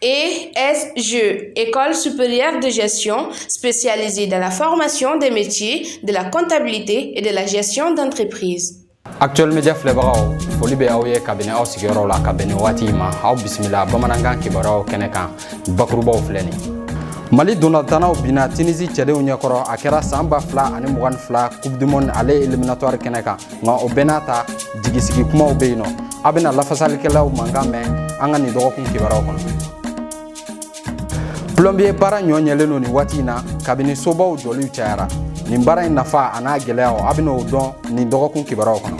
ESG, École supérieure de gestion spécialisée dans la formation des métiers de la comptabilité et de la gestion d'entreprise. actuel media filɛbagaw foli bɛ aw ye kabini aw sigiyɔrɔ la ka bɛn ni waati ma aw bisimila bamanankan kibaruyaw kɛnɛ kan bakurubaw filɛ nin mali ntolatannaw binna tunisi cɛdenw ɲɛkɔrɔ a kɛra san ba fila ani mugan ni fila coupe du monde aller éliminatoire kɛnɛ kan nka o bɛɛ n'a ta jigisigi kumaw bɛ yen nɔ a bɛna lafasalikɛlaw mankan mɛn an ka nin dɔgɔkun kibaruyaw kɔnɔ plɔnbiye baara ɲɔ ɲɛlen don nin waati in na kabini sobaw jɔliw cayara nin baara in nafa a n'a gɛlɛyaw a bɛna o dɔn nin dɔgɔkun kibaruyaw kɔnɔ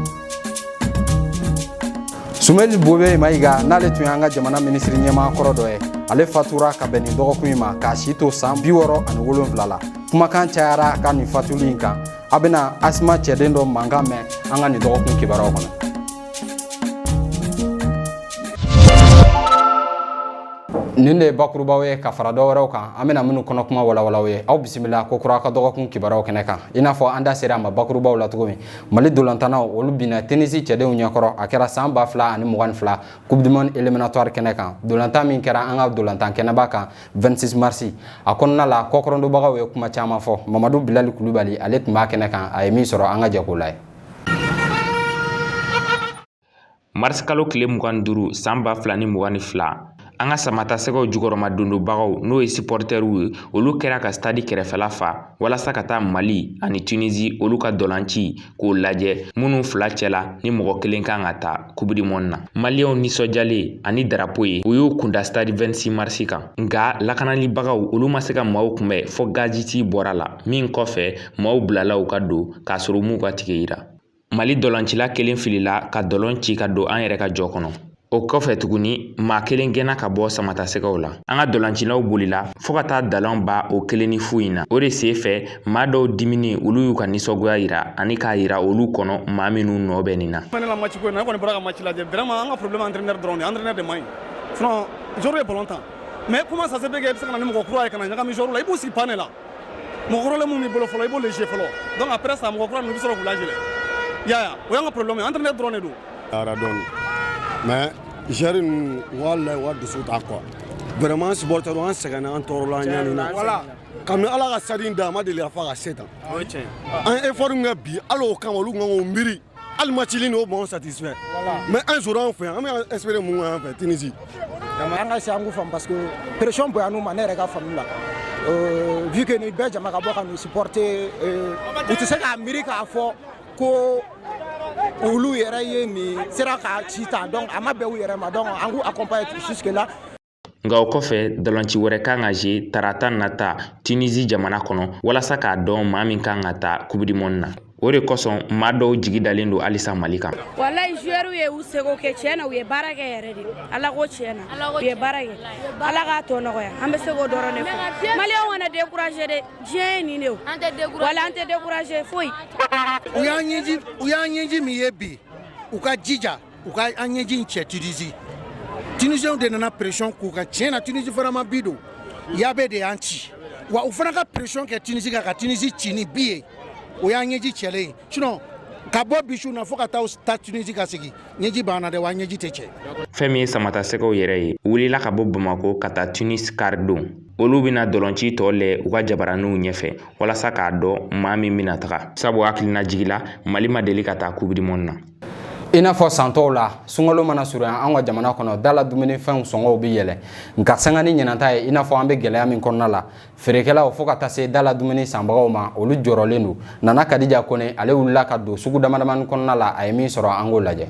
sumeyilu bubɛyi mayiga n'ale tun y'an ka jamana minisiri ɲɛmaa kɔrɔ dɔ ye ale fatura ka bɛn nin dɔgɔkun in ma k'a si to san bi wɔɔrɔ ani wolonfila la kumakan cayara a ka nin fatuli in kan a bɛna asima cɛden dɔ mankan mɛn an ka nin dɔgɔkun kibaruyaw kɔnɔ nin de ye bakurubaw ye ka fara dɔ wɛrɛw kan an bɛna minnu kɔnɔ kuma walawala aw ye aw bisimila kokura an ka dɔgɔkun kibaruyaw kɛnɛ kan i n'a fɔ an da sera a ma bakurubaw la cogo min mali ntolatannaw olu binna tunisi cɛdenw ɲɛkɔrɔ a kɛra san ba fila ani mugan ni fila coupe du monde éliminatoire kɛnɛ kan ntolatan min kɛra an ka ntolatan kɛnɛba kan 26 mars a kɔnɔna la kɔkɔrɔdonbagaw ye kuma caman fɔ mamadu bilali kulubali ale tun b'a kɛnɛ kan a ye min sɔrɔ an ka jɛ k'o lajɛ marisi kalo tile mugan ni duuru san ba fila ni mugan ni fila an ka samatasɛgɛw jukɔrɔmadondonbagaw n'o ye sipɔritɛriw ye olu kɛra ka stadi kɛrɛfɛla fa walasa ka taa mali ani tunisi olu ka ntolaci k'o lajɛ minnu fila cɛla ni mɔgɔ kelen kan ka taa coupe du monde na maliyɛnw nisɔndiyalen ani darapo ye u y'u kun da stade 26 marisi kan nka lakanalibagaw olu ma se ka maaw kunbɛ fɔ gaziti bɔra la min kɔfɛ maaw bilala u ka don k'a sɔrɔ u m'u ka tike yira mali ntolacila kelen filila ka ntola ci ka don an yɛrɛ ka jɔ kɔnɔ O kɔfɛ tuguni maa kelen gɛnna ka bɔ samatasɛgɛw la an ka ntolacilaw bolila fɔɔ ka taa ntola ban o kelen ni fu in na o de sen fɛ maa dɔw diminen olu y'u ka nisɔngoya yira ani k'a yira olu kɔnɔ maa minnu nɔ bɛ nin na match ko na kɔni bɔra ka match lajɛ vraiment an ka problème entraîneur dɔrɔn de entraîneur de man ɲi sinon joueur ye ballon tan mais comment ça se fait que e bɛ se ka na ni mɔgɔ kura ye ka na ɲagami joueur la i b'u sigi banc de la mɔgɔ kɔrɔlen min b'i bolo fɔlɔ i b'o lajɛ fɔlɔ donc après ça mɔgɔ kura ninnu i bɛ sɔrɔ k'u lajɛ i y'a ye wa o y'an ka problème ye entraîneur dɔrɔn de don Ara dɔn mais joueur ninnu wala wa dusu ta quoi vraiment supporter an sɛgɛnna an tɔɔrɔla ɲ na voilà comme ala ka sa da a ma deli a fa ka se tan an ye effort kɛ bi ala kama olu ka miiri hali match o bon satisfait mais an s anw fɛ an bɛ espérer mun an fɛ tunisi an ka se an fa parce que pression bonyana u ma ne yɛrɛ ka faamumu la vu que bɛɛ jama ka bɔ ka supporter u tɛ se k'a miiri k'a fɔ ko olu yɛrɛ ye nin sera ka ci ta donc a ma bɛn u yɛrɛ ma donc an k'u accompagner jusque là nka o kɔfɛ ntolanci wɛrɛ kan ka kɛ tarata nata tunisi jamana kɔnɔ walasa k'a dɔn maa min kan ka taa coupe du monde na o de kosɔn maa dɔw jigi dalen don halisa mali kan walayi joueur ye u seko kɛ tiɲɛ na u ye baara kɛ yɛrɛ de ala ko tiɲɛ na u ye baara kɛ ala k'a tɔ nɔgɔya an bɛ se k'o dɔrɔn de fɔ maliyɛnw kana décourager dɛ diɲɛ ye nin de an tɛ décourager wala an tɛ décourager foyi u y'an ɲɛji u y'an ɲɛji min ye bi u ka jija u ka an ɲɛji in cɛ Tunisie Tunisienw de nana pression k'u kan tiɲɛ na Tunisie fana ma bi don yabe de y'an ci wa u fana ka pression kɛ Tunisie kan ka Tunisie ci ni bi ye o y'an ɲɛji cɛlen ye sinon ka bɔ bi su na fo ka taa Tunisie ka segin ɲɛji banna dɛ wa ɲɛji tɛ cɛ fɛn min ye samatasɛgɛw yɛrɛ ye wulila ka bɔ bamako ka taa tunis kari don olu bɛna ntolanci tɔ lajɛ u ka jabaraninw ɲɛfɛ walasa k'a dɔn maa min bɛna taga sabu hakilinajigi la mali ma deli ka taa coupe du monde na i n'a fɔ san tɔw la sunkalo mana surunya an ka jamana kɔnɔ da la dumunifɛnw sɔngɔw bɛ yɛlɛ nka sanga ni ɲinan ta ye i n'a fɔ an bɛ gɛlɛya min kɔnɔna la feerekɛlaw fo ka taa se da la dumuni sanbagaw ma olu jɔrɔlen don nana kadija kone ale wulila ka don sugu damadamani kɔnɔna la a ye min sɔrɔ an k'o lajɛ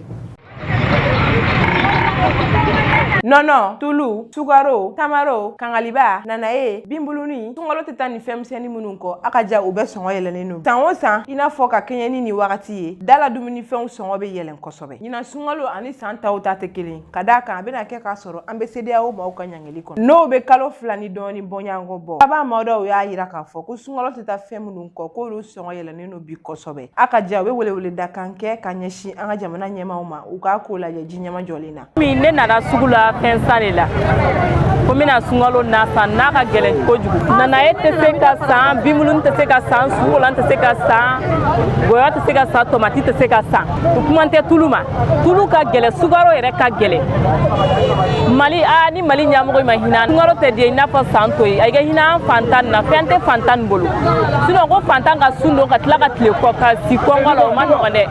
nɔnɔ tulu sukaro tamaro kangaliba nanaye binbuluni sunkalo tɛ taa ni fɛnmisɛnnin minnu kɔ a ka ca u bɛɛ sɔngɔ yɛlɛnnen don san o san i n'a fɔ ka kɛɲɛ ni nin wagati ye da la dumunifɛnw sɔngɔ bɛ yɛlɛn kosɛbɛ ɲinan sunkalo ani san tɔw ta tɛ kelen ka d'a kan a bɛna kɛ k'a sɔrɔ an bɛ CEDEAO maaw ka ɲangili kɔnɔ n'o bɛ kalo fila ni dɔɔni bɔɲɔgɔnko bɔ kaban maa dɔw y'a jira k'a fɔ ko sunkalo tɛ taa fɛn minnu kɔ k'olu sɔngɔ yɛlɛn don bi kosɛbɛ a ka ca u bɛ welewele da kan kɛ ka ɲɛsin an ka jamana ɲɛmaaw ma u k'a ko lajɛ ji ɲɛmajɔlen na min ne nana sugu la fɛn san de la ko n bɛna sunkalo na san n'a ka gɛlɛn kojugu nanaye tɛ se ka san binbuluni tɛ se ka san sukɔlan tɛ se ka san gɔyɔ tɛ se ka san tomati tɛ se ka san u kuma tɛ tulu ma tulu ka gɛlɛ sukaro yɛrɛ ka gɛlɛ mali a ni mali ɲamɔgɔ ma hinɛ sunkalo tɛ diya i n'a fɔ san tɔw ye a ka hinɛ an fantan na fɛn tɛ fantan bolo sinon ko fantan ka sun don ka tila ka tile kɔ ka si kɔngɔ la o ma nɔgɔn dɛ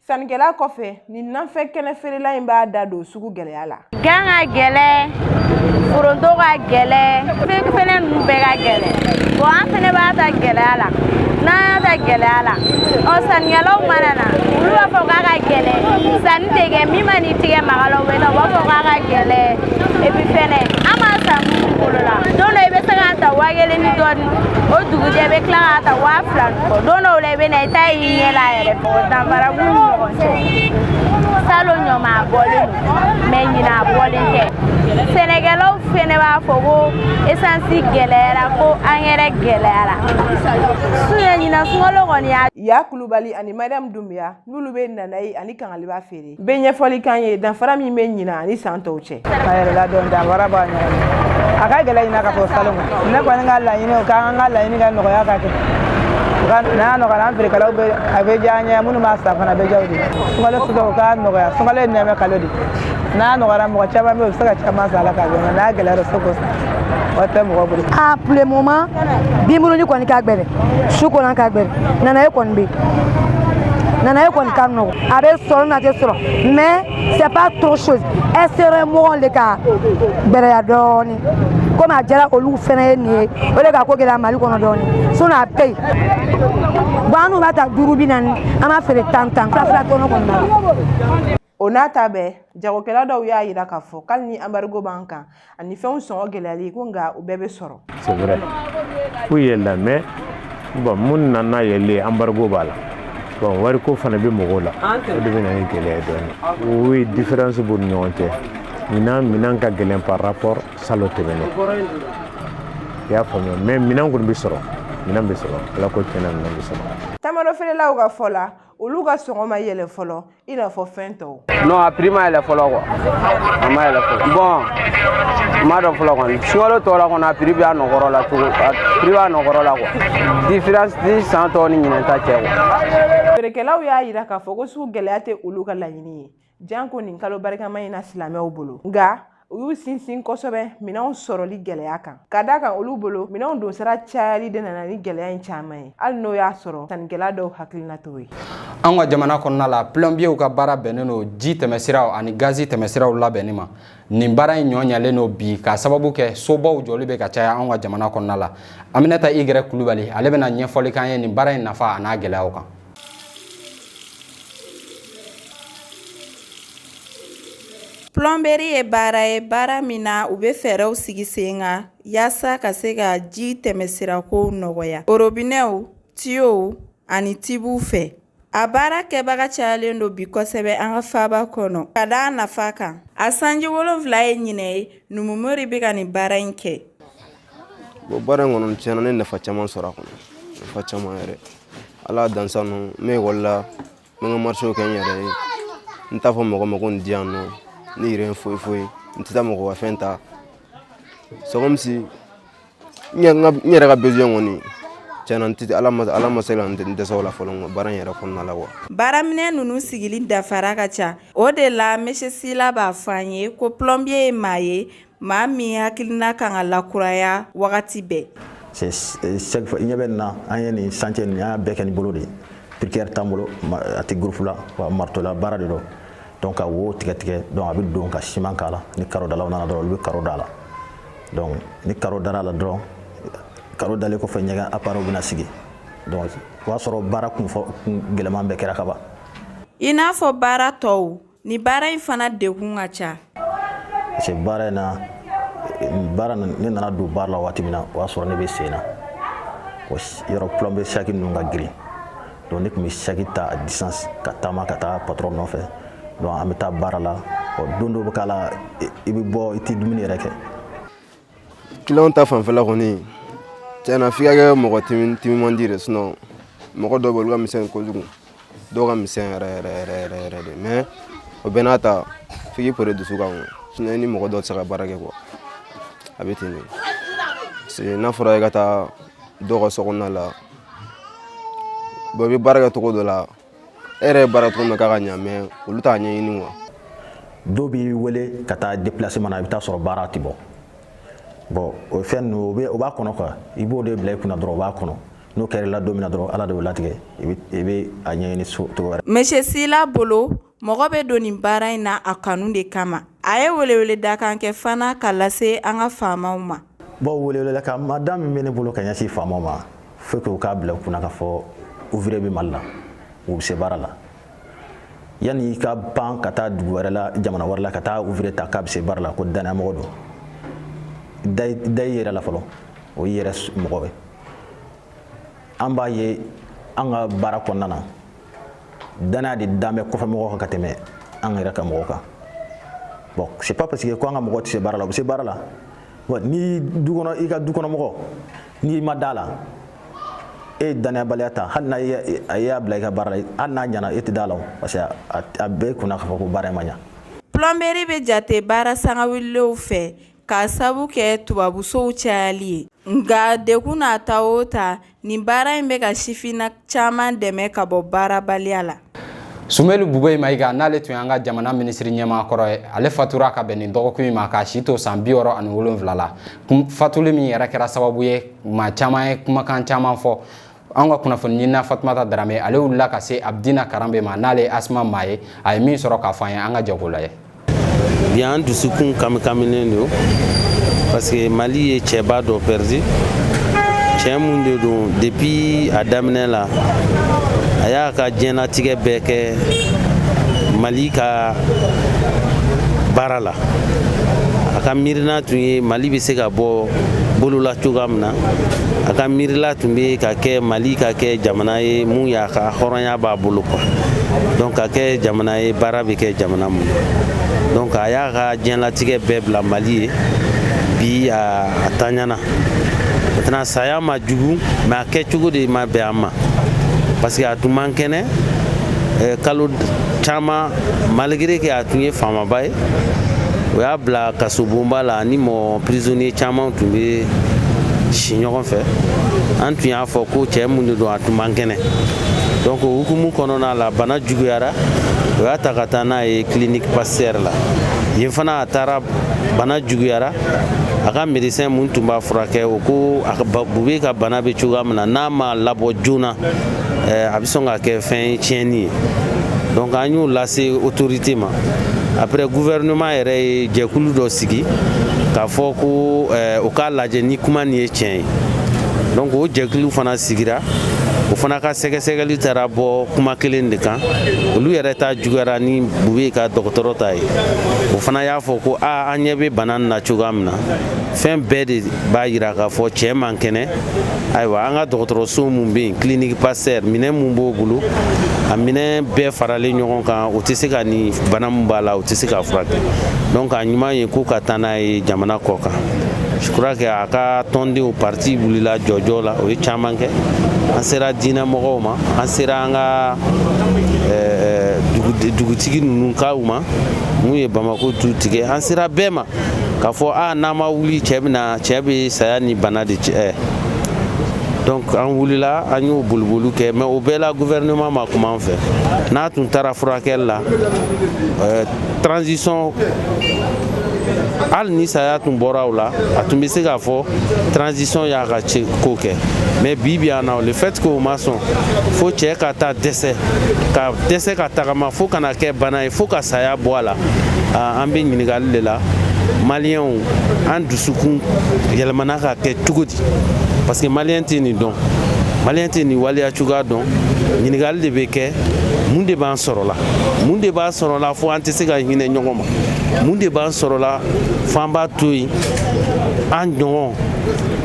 sannikɛla kɔfɛ nin nafɛn kɛnɛ feerela in b'a da don sugu gɛlɛya la gan ka gɛlɛ foronto ka gɛlɛ fɛn ninnu bɛɛ ka gɛlɛ bon an fɛnɛ b'a ta gɛlɛya la n'an y'a ta gɛlɛya la ɔ sannikɛlaw mana na olu b'a fɔ k'a ka gɛlɛ sanni tɛ kɛ min man'i tigɛ maga a la u bɛ taa u b'a fɔ k'a ka gɛlɛ epi fɛnɛ an b'a san minnu bolo la don dɔ i bɛ se k'a ta waa kelen ni dɔɔni o dugujɛ i bɛ tila k'a ta waa fila ni kɔ don dɔw la i bɛ na i ta y'i ɲɛ la yɛrɛ danfara b'u ni ɲɔgɔn cɛ salon ɲɔmaa bɔlen mais ɲina a bɔlen tɛ sɛnɛkɛlaw fɛnɛ b'a fɔ ko esansi gɛlɛyara ko angɛrɛ gɛlɛyara suɲɛ ɲina sunkalo kɔni y'a ya kulubali ani mariyamu dunbiya n'olu bɛ nanayi ani kangaliba feere bɛ ɲɛfɔli k'an ye danfara min bɛ ɲina ani san tɔw cɛ a yɛrɛ la dɔn danfara b'a ɲɔgɔn a ka gɛlɛn ɲina ka fɔ salon ne kɔni ka laɲini o k'an ka laɲini ka nɔgɔya ka kɛ n'a nɔgɔyara an feerekɛlaw bɛ a bɛ diya an ye minnu b'a san fana a bɛ diya u de ye sunkalo sugu u k'a nɔgɔya sunkalo ye nɛɛma kalo de n'a nɔgɔyara mɔgɔ caman bɛ yen u bɛ se ka caman san a la k'a dun n'a gɛlɛyara u tɛ se k'o san wari tɛ mɔgɔ bolo. a pour le moment binbuluni kɔni ka gɛlɛn sukɔlan ka gɛlɛn nanaye kɔni bɛ yen nanaye kɔni ka nɔgɔn a bɛ sɔrɔ n'a tɛ sɔrɔ mais c'est pas trop chose ɛsɛrɛ mɔgɔw de ka gɛlɛya dɔɔni. komi a jara olu fɛnɛ ye nin ye o de ka ko gɛlɛya mali kɔnɔ dɔɔni sinon a bɛ yen bon annu b'a ta duuru bi naani an b'a feere tan tan fila fila tɔnɔ kɔni na o n'a ta bɛɛ jagokɛla dɔw y'a yira k'a fɔ k'ali ni anbarigo b'an kan ani fɛnw sɔngɔ gɛlɛyali ko nka u bɛɛ bɛ sɔrɔ. C'est vrai. K'u yɛlɛla mais Bon mun nana n'a yɛlɛ anbarigo b'a la bon wari ko fana bɛ mɔgɔw la o de bɛ na ni gɛlɛya dɔɔnin o ye différence b'u ni ɲɔgɔn cɛ ɲinan minɛn ka gɛlɛn par rapport salon tɛmɛnen i y'a faamuya mais minɛn kɔni bɛ sɔrɔ minɛn bɛ sɔrɔ ala ko tiɲɛ na minɛn bɛ sɔrɔ tamarofeerelaw ka fɔ la olu ka sɔngɔ ma yɛlɛ fɔlɔ i n'a fɔ fɛn tɔw non a prix ma yɛlɛ fɔlɔ quoi a ma yɛlɛ fɔlɔ bon n m'a dɔn fɔlɔ kɔni sunkalo tɔ la kɔni a prix bɛ a nɔ kɔrɔ la cogo a prix b'a nɔ kɔrɔ la quoi différence ti san tɔw ni ɲinɛn ta cɛ quoi feerekɛlaw y'a yira k'a fɔ ko sugu gɛlɛya tɛ olu ka laɲini ye janko nin kalo barikama in na silamɛw bolo nka u y'u sinsin kosɛbɛ minɛnw sɔrɔli gɛlɛya kan ka d'a kan olu bolo minɛnw donsira cayali de nana ni gɛlɛya in caman ye hali n'o y'a sɔrɔ sannikɛla dɔw hakilina t'o ye an ka jamana kɔnɔna la plɔnbiyɛw ka baara bɛnnen don ji tɛmɛsiraw ani gazi tɛmɛsiraw labɛnni ma nin baara in ɲɔ ɲalen don bi k'a sababu kɛ sobaw jɔli bɛ ka caya an ka jamana kɔnɔna la aminata igɛrɛ kulubali ale bɛna ɲɛfɔli k'an ye nin baara in nafa a n'a gɛlɛyaw kan Plɔnbɛri ye baara ye baara min na u bɛ fɛɛrɛw sigi sen kan yaasa ka se ka ji tɛmɛsirakow nɔgɔya orobinɛw tiyow ani tibuw fɛ a baara kɛbaga cayalen don bi kosɛbɛ an ka faaba kɔnɔ ka d'a nafa kan a sanji wolonwula ye ɲinɛ ye numumori bɛ ka nin baara in kɛ Bon baara in kɔnɔ tiɲɛna ne nafa caman sɔrɔ a kɔnɔ nafa caman yɛrɛ ala dansa ninnu n bɛ ekɔli la n bɛ n ka marisew kɛ n yɛrɛ ye n t'a fɔ mɔgɔ ma ko nin di yan nɔ ne yɛrɛ ye foyi foyi n tɛ taa mɔgɔ ka fɛn ta c'est comme si n yɛrɛ ka besoin kɔni tiɲɛna n tɛ ala ma ala ma se ka n dɛsɛ o la fɔlɔ nka baara in yɛrɛ kɔnɔna la wa baaraminɛn ninnu sigili danfara ka ca o de la monsieur sila b'a fɔ an ye ko plɔmbiye ye maa ye maa min hakilina ka kan ka lakuraya wagati bɛɛ ɲɛ bɛ na an ye nin chantier y'a bɛɛ kɛ ni bolo de ye piqueur t'an bolo a tɛ groupe la wa marteau la baara de don ka wo tigɛ tigɛ a bɛ don ka siman k'a la ni karodalaw nana dɔrɔn olu bɛ karo da la ni karo dara la dɔrɔn karo dalen kɔfɛ ɲɛgɛn appareilw bɛna sigi o y'a sɔrɔ baara kun gɛlɛman bɛɛ kɛra kaban i n'a fɔ baara tɔw ni baara in fana degun ka ca parce que baara in na baara ne nana don baara la waati min na o y'a sɔrɔ ne bɛ sen na yɔrɔ plombier saki ninnu ka girin donc ne tun bɛ saki ta à distance ka taama ka taa patron nɔfɛ donc an bɛ taa baara la ɔ don dɔ bɛ k'a la i bɛ bɔ i tɛ dumuni yɛrɛ kɛ kiliyanw ta fanfɛla kɔni tiɲɛna f'i ka kɛ mɔgɔ timimandi de sinɔn mɔgɔ dɔw bɛ olu ka misɛn kojugu dɔw ka misɛn yɛrɛ yɛrɛ yɛrɛ yɛrɛ yɛrɛ de mɛ o bɛɛ n'a ta f'i k'i pere dusu kan sinɔn i ni mɔgɔ dɔw tɛ se ka baara kɛ kuwa a bɛ ten de parce que n'a fɔra i ka taa dɔw ka sokɔnɔna la bɔn i bɛ baara kɛ cogo dɔ la e yɛrɛ ye baara cogo min na k'a ka ɲa mɛ olu t'a ɲɛɲini kuwa dɔw b'i wele ka taa deplaseman na i bɛ taa sɔrɔ baara tɛ bɔ bɔn o fɛn ninnu o b'a kɔnɔ kuwa i b'o de bila i kunna dɔrɔn o b'a kɔnɔ n'o kɛra i la don min na dɔrɔn ala de b'o latigɛ i bɛ a ɲɛɲini cogo wɛrɛ monsieur sila bolo mɔgɔ bɛ don nin baara in na a kanu de kama a ye weleweledakan kɛ fana ka lase an ka faamaw ma bɔn welekan madame min bɛ ne bolo ka ɲɛsin faamaw ma faut que u k'a bila u kunna k'a fɔ ouvrier bɛ mali la u bɛ se baara la yanni i ka pan ka taa dugu wɛrɛ la jamana wɛrɛ la ka taa ouvrier ta k'a bɛ se baara la ko danayamɔgɔ don da i yɛrɛ la fɔlɔ o y'i yɛrɛ mɔgɔ ye an b'a ye an ka baara kɔnɔna na danaya de dan bɛ kɔfɛ mɔgɔ kan ka tɛmɛ an yɛrɛ ka mɔgɔ kan bon c'est pas parce que ko an ka mɔgɔ tɛ se baara la u bɛ se baara la wa ni du kɔnɔ i ka du kɔnɔ mɔgɔ n'i ma da la e ye danayabaliya ta hali n'a y'a bila i ka baara la hali n'a ɲana e tɛ da la parce que a b'e kunna k'a fɔ ko baara in ma ɲa plɔnberi bɛ jate baara sangawulilenw fɛ k'a sabu kɛ tubabusow cayali ye nka degun n'a ta o ta Nin baara in bɛ ka sifinna caman dɛmɛ ka bɔ baarabaliya la Sumelu Bubey Mayiga n'ale tun y'an ka jamana minisiri ɲɛmaa kɔrɔ ye, ale fatura ka bɛn nin dɔgɔkun in ma k'a si to san bi wɔɔrɔ ani wolonfila la. Fatuli min yɛrɛ kɛra sababu ye maa caman ye kumakan caman fɔ. An ka kunnafoni ɲinina Fatumata Darame, ale wulila ka se Abdina Karambe ma n'ale ye Asma maa ye, a ye min sɔrɔ k'a fɔ an ye, an ka jɛ k'o lajɛ. bi an dusukun kamikaminen don parce que mali ye cɛba dɔ pɛridi cɛɛ mun de don depuis a daminɛ la a y'a ka diɲɛnatigɛ bɛɛ kɛ mali ka baara la a ka miirina tun ye mali bɛ se ka bɔ bolola cogoya min na a ka miirila tun bɛ ka kɛ mali ka kɛ jamana ye mun y'a ka hɔrɔnya A b'a bolo quoi donc ka kɛ jamana ye baara bɛ kɛ jamana mun donc a y'a ka diɲɛlatigɛ bɛɛ bila Mali ye bi a a taɲana maintenant saya ma jugu mais a kɛcogo de ma bɛn an ma parce que a tun man kɛnɛ eh, kalo caman malgré que a tun ye faamaba ye o y'a bila kasobonba la ni mɔgɔ prisonnier caman tun bɛ si ɲɔgɔn fɛ an tun y'a fɔ ko cɛɛ mun de don a tun man kɛnɛ donc o hukumu kɔnɔna la bana juguyara o y'a ta ka taa n'a ye clinique pasteur la yen fana a taara bana juguyara a ka médecin mun tun b'a furakɛ o ko a bube ka bana bɛ cogoya min na n'a ma labɔ joona eh, a bɛ sɔn ka kɛ fɛn tiɲɛni ye donc an y'o lase autorité ma après gouvernement yɛrɛ ye jɛkulu dɔ sigi k'a fɔ ko eh, o k'a lajɛ ni kuma nin ye tiɲɛ ye donc o jɛkulu fana sigira o fana ka sɛgɛsɛgɛli taara bɔ kuma kelen de kan olu yɛrɛ ta juguyara ni bube ka dɔgɔtɔrɔ ta ye o fana y'a fɔ ko a an ɲɛ bɛ bana na cogoya min na fɛn bɛɛ de b'a yira k'a fɔ cɛɛ man kɛnɛ ayiwa an ka dɔgɔtɔrɔso mun bɛ yen clinique pasteur minɛn mun b'o bolo a minɛn bɛɛ faralen ɲɔgɔn kan o tɛ se ka nin bana mun b'a la o tɛ se k'a furakɛ donc a ɲuman ye ko ka taa n'a ye jamana kɔ kan je crois que a ka tɔndenw parti wulila jɔjɔ la o ye caman kɛ an sera diinɛ mɔgɔw ma an sera an ka eh, dugutigi ninnu kaw ma mun ye bamako tu tigɛ an sera bɛɛ ma k'a fɔ a ah, n'an ma wuli cɛ bɛna cɛ bɛ saya ni bana de cɛ eh. donc an wulila an y'o boliboliw kɛ mais o bɛɛ la gouvernement ma kuma an fɛ n'a tun taara furakɛli la eh, transition hali ni saya tun bɔra o la a tun bɛ se k'a fɔ transition y'a ka seko kɛ mais bi bi in na le fait que o ma sɔn fo cɛ ka taa dɛsɛ ka dɛsɛ ka tagama fo ka na kɛ bana ye fo ka saya bɔ a la an bɛ ɲininkali de la maliyɛnw an dusukun yɛlɛmana ka kɛ cogo di parce que maliyɛn tɛ nin dɔn maliyɛn tɛ nin waleya cogoya dɔn ɲininkali de bɛ kɛ mun de b'an sɔrɔla mun de b'an sɔrɔla fo an tɛ se ka hinɛ ɲɔgɔn ma mun de b'an sɔrɔla fo an b'a to yen an ɲɔgɔn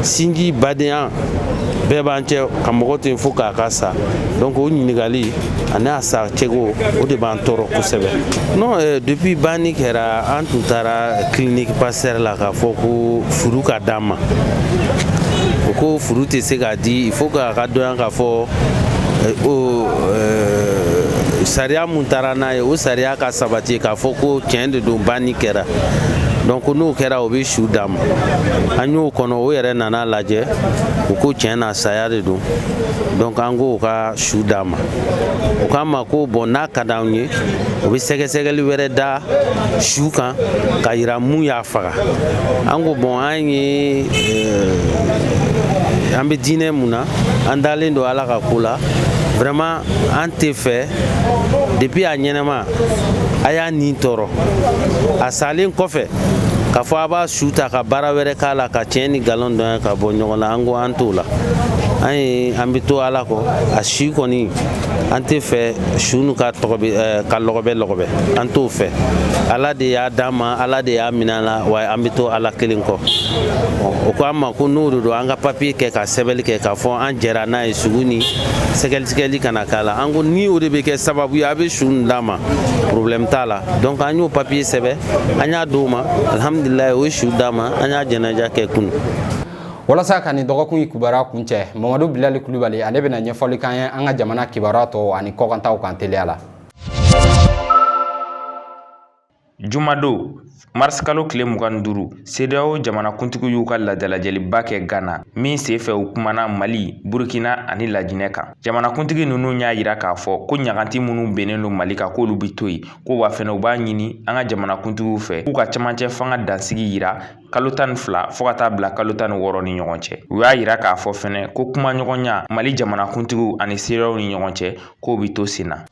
sinji badenya bɛɛ b'an cɛ ka mɔgɔ to yen fo k'a ka sa donc o ɲininkali ani a sa cogo o de b'an tɔɔrɔ kosɛbɛ non eh, depuis banni kɛra an tun taara clinique pasteur la k'a fɔ ko fure ka d'an ma o ko fure tɛ se ka di il faut k'a ka dɔnya k'a fɔ eh, o eh, sariya mun taara n'a ye o sariya ka sabati k'a fɔ ko tiɲɛ de don banni kɛra donc n'o kɛra o bɛ su d'an ma an y'o kɔnɔ o yɛrɛ nan'a lajɛ u ko tiɲɛ na saya de don donc an k'o ka su d'an ma o k'an ma ko bon n'a ka d'anw ye o bɛ sɛgɛsɛgɛli wɛrɛ da su kan ka yira mun y'a faga an ko bon an ye eh, an bɛ diinɛ mun na an dalen don ala ka ko la vraiment an t'a fɛ depuis a ɲɛnama a y'a nin tɔɔrɔ a salen kɔfɛ k'a fɔ a b'a su ta ka baara wɛrɛ k'a la ka tiɲɛ ni galon dɔn ka bɔ ɲɔgɔn na an ko an t'o la an ye an bɛ to ala kɔ a si kɔni an t'a fɛ su nin ka lɔgɔbɛ eh, ka lɔgɔbɛ lɔgɔbɛ an t'o fɛ ala de y'a d'an ma ala de y'a minɛ an la wa an bɛ to ala kelen kɔ o ko an ma ko n'o de don an ka papiye kɛ ka sɛbɛnni kɛ k'a fɔ an jɛra n'a ye sugu ni sɛgɛsɛgɛli kana k'a la an ko ni o de bɛ kɛ sababu ye a bɛ su nin d'an ma problème t'a la donc an y'o papiye sɛbɛn an y'a d'o ma alihamudulilayi o ye su d'an ma an y'a janaja kɛ kunu walasa ka nin dɔgɔkun in kibaruya kuncɛ mamadu bilali kulubali ale bɛna ɲɛfɔli k'an ye an ka jamana kibaruya tɔw ani kɔkantaw kan teliya la jumadon marisikalo tile mugan ni duuru sedeyawo jamanakuntigi y'u ka ladalajɛliba kɛ gana min sen fɛ u kumana mali burukina ani lajinɛ kan jamanakuntigi ninnu y'a yira k'a fɔ ko ɲaganti minnu bennen don mali kan k'olu bɛ to yen ko wa fɛnɛ u b'a ɲini an ka jamanakuntigiw fɛ k'u ka camancɛ fanga dansigi yira kalo tan ni fila fo ka taa bila kalo tan ni wɔɔrɔ ni ɲɔgɔn cɛ u y'a yira k'a fɔ fɛnɛ ko kumaɲɔgɔnya mali jamanakuntigiw ani sedeyawo ni ɲɔgɔn cɛ k'o bɛ to sen na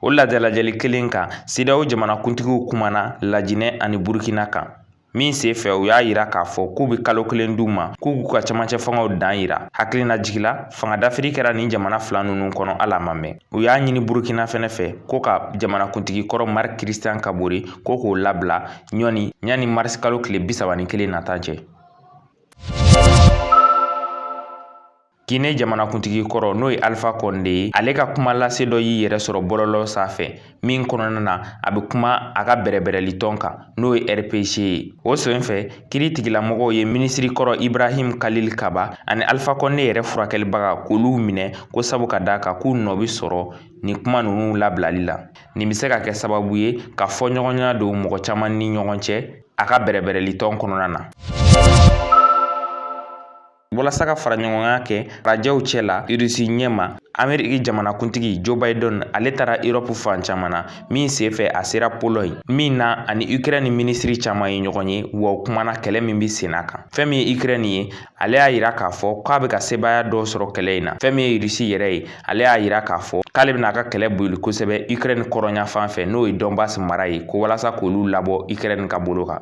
o ladalajɛli kelen kan sedeyawo jamanakuntigiw kumana lajinɛ ani burukina kan min sen fɛ u y'a yira k'a fɔ k'u bɛ kalo kelen d'u ma k'u k'u ka camancɛ fangaw dan yira hakilina jigila fanga dafiri kɛra nin jamana fila ninnu kɔnɔ ala ma mɛn u y'a ɲini burukina fɛnɛ fɛ ko ka jamanakuntigi kɔrɔ marc christian kabore ko k'o labila ɲɔni yani marisi kalo tile bisaba ni kelen nata cɛ Gine jamanakuntigi kɔrɔ n'o ye alifa kɔnde ye ale ka kuma lase dɔ y'i yɛrɛ sɔrɔ bɔlɔlɔ sanfɛ min kɔnɔna na a bɛ kuma a ka bɛrɛbɛrɛli tɔn kan n'o ye rpg ye o sen fɛ kiritigɛlamɔgɔw ye minisiri kɔrɔ ibrahim kalil kaba ani alifa kɔnde yɛrɛ furakɛlibaga k'olu minɛ ko sabu ka d'a kan k'u nɔ bɛ sɔrɔ nin kuma ninnu labilali la nin bɛ se ka kɛ sababu ye ka fɔ ɲɔgɔnya don mɔgɔ caman ni ɲɔgɔn cɛ a ka bɛrɛbɛrɛli tɔn kɔnɔna na Walasa ka fara ɲɔgɔnya kɛ rajɛw cɛ la rusi ɲɛ ma ameriki jamanakuntigi joe biden ale taara erɔpu fan caman na min senfɛ a sera polɔɲi min na ani ukrɛni minisiri caman ye ɲɔgɔn ye wa u kumana kɛlɛ min bɛ senna kan fɛn min ye ukrɛni ye ale y'a yira k'a fɔ k'a bɛ ka sebaaya dɔ sɔrɔ kɛlɛ in na fɛn min ye rusi yɛrɛ ye ale y'a yira k'a fɔ k'ale bɛna a ka kɛlɛ boli kosɛbɛ ukrɛni kɔrɔnyanfan fɛ n'o ye dɔnbas mara ye ko walasa k'olu labɔ ukrɛni ka bolo kan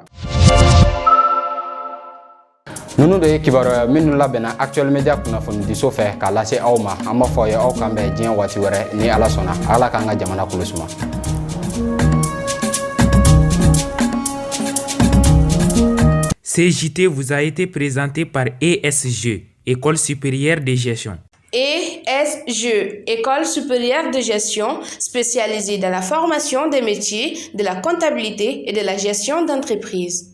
ninnu de ye kibaruya minnu labɛnna actuel media kunnafonidiso fɛ k'a lase aw ma an b'a fɔ aw ye aw k'an bɛn diɲɛ waati wɛrɛ ni ala sɔnna ala k'an ka jamana kolo suma Ce JT vous a été présenté par ESG, École supérieure de gestion. ESG, École supérieure de gestion spécialisée dans la formation des métiers de la comptabilité et de la gestion d'entreprise.